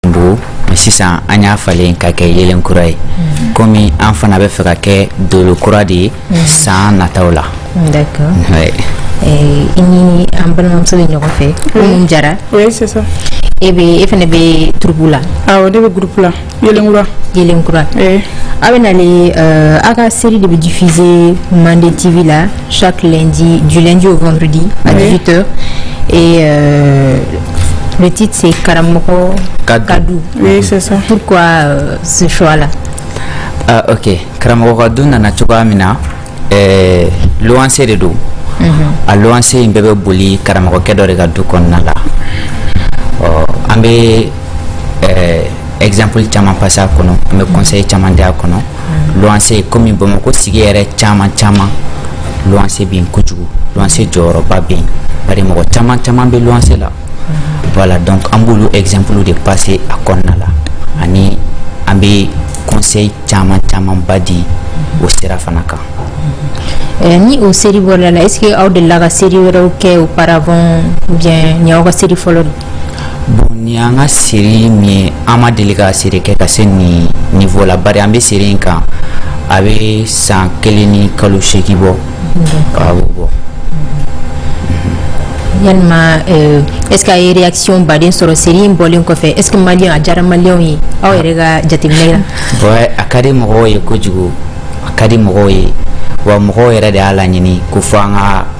don mɛ sisan an y'a falen ka kɛ yeelen kura ye mhm. komi an fana bɛ fɛ ka kɛ dolo kura de ye mhm. san nataw la eh, i ni an balimamuso bɛ ɲɔgɔn fɛ Umu Jara e bɛ e fana bɛ turupu la awɔ ne bɛ gurupu la yeelen kura yeelen kura eh. aw bɛ nale euh, aw ka seri de bɛ diffuser mande tv la chaque lundi du lundi au vendredi à 18 heures et euh, Le titre c'est Karamɔgɔ ka du. Oui, c'est ça. Pourquoi euh, ce choix-là Ah, ok. Karamɔgɔ ka du nana cogoya min na, eh, luwanse de don. Mhm. A luwanse in bɛɛ bɛ boli karamɔgɔkɛ dɔ de ka du kɔnɔna la. Ɔ, an bɛ eh, exemple caman passer a kɔnɔ, an bɛ conseil caman di a kɔnɔ. luwanse komi bamakɔ sigi yɛrɛ caman caman luwanse bɛ yen kojugu luwanse jɔyɔrɔba bɛ yen bari mɔgɔ caman caman bɛ luwanse la voilà donc an b'olu exemple de passer a kɔnɔna la ani an bɛ conseil caman camanba di o sira fana kan Eh, ni o seri bɔra la est ce que aw delila ka seri wɛrɛw kɛ auparavant ou bien nin aw ka seri fɔlɔ bon nin y'an ka seri min ye an ma deli ka seri kɛ ka se nin niveau la bari an bɛ seri in kan a bɛ san kelen ni kalo seegin bɔ a b'o bɔ yalima euh, est ce que a ye réaction baden sɔrɔ seri in bɔlen kɔfɛ est ce que maliyɛn a diyara maliyɛnw ye aw yɛrɛ ka jateminɛ la ouais a ka di mɔgɔw ye kojugu a ka di mɔgɔw ye wa mɔgɔw yɛrɛ de y'a laɲini ko fo an ka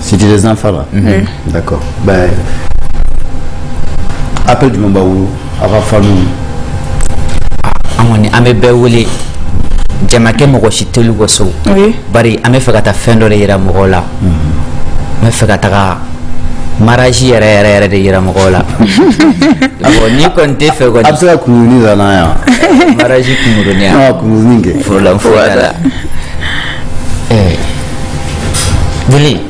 Cité des enfants là mm -hmm. D'accord. Ben, après du moment où, avant famille. An kɔni an bɛ bɛɛ wele jamakɛ mɔgɔ si teli bɔ so bari an bɛ fɛ ka taa fɛn dɔ de yira mɔgɔw la n bɛ fɛ ka taga maraji yɛrɛ yɛrɛ yɛrɛ de yira mɔgɔw la awɔ n'i kɔni tɛ fɛ kɔni a bɛ se ka kunkuruni da n'an yan maraji kunkuruni yan kunkuruni kɛ forolanfo yɛrɛ la jeli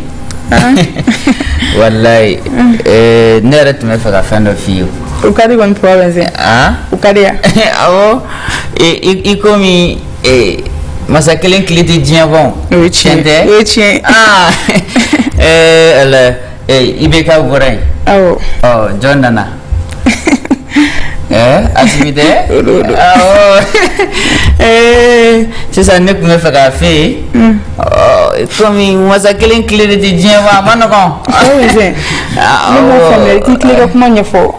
walayi eh, ne yɛrɛ tun bɛ fɛ ka fɛn dɔ f'i ye o ka di kɔni papa bɛ se ah? o ka di yan awɔ i- i i komi eh, masa kelen tile tɛ diɲɛ ban o ye tiɲɛ ye o ye tiɲɛ ye Ah, eh, ala ee IBK bɔra yen awɔ ɔ jɔn nana ɛɛ Asimi tɛ awɔ ee sisan ne tun bɛ fɛ k'a f'e ye ɔ komi masa kelen tile de tɛ diɲɛ ban a man nɔgɔn Ayi, Zɛn. ne m'a faamuya i t'i tilen ka kuma ɲɛfɔ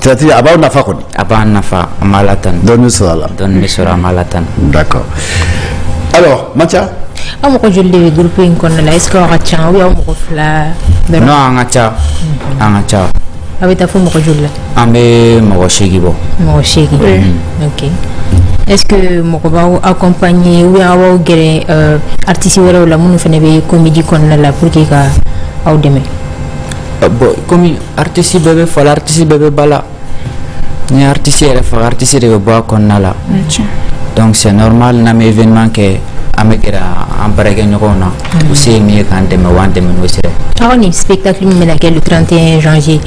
Tati a b'aw nafa kɔni a b'an nafa an b'a la tan dɔɔni sɔrɔ a la dɔɔni bɛ sɔrɔ an b'a la tan d'accord alors Matia aw mɔgɔ joli de bɛ groupe in kɔnɔna la est-ce que aw ka ca ou bien aw mɔgɔ fila dɔrɔn non an ka ca an ka ca aw bɛ taa fo mɔgɔ joli la an bɛ mɔgɔ seegin bɔ mɔgɔ seegin mm-hmm. ok est-ce que mɔgɔ b'aw accompagner ou bien aw b'aw gɛrɛ euh, artiste wɛrɛw la minnu fana bɛ comédie kɔnɔna la pour que ka aw dɛmɛ euh, bon komi artiste bɛɛ bɛ fa la artiste bɛɛ bɛ ba la ni artiste yɛrɛ faga artiste de bɛ bɔ a kɔnɔna la donc c'est normal n'an bɛ événement kɛ an bɛ gɛrɛ an baarakɛɲɔgɔnw na u se ye min ye k'an dɛmɛ u b'an dɛmɛ n'o sira ye aw ni spectacle min bɛna kɛ le 31 janvier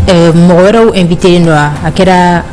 mɔgɔ wɛrɛw invitélen don wa a kɛra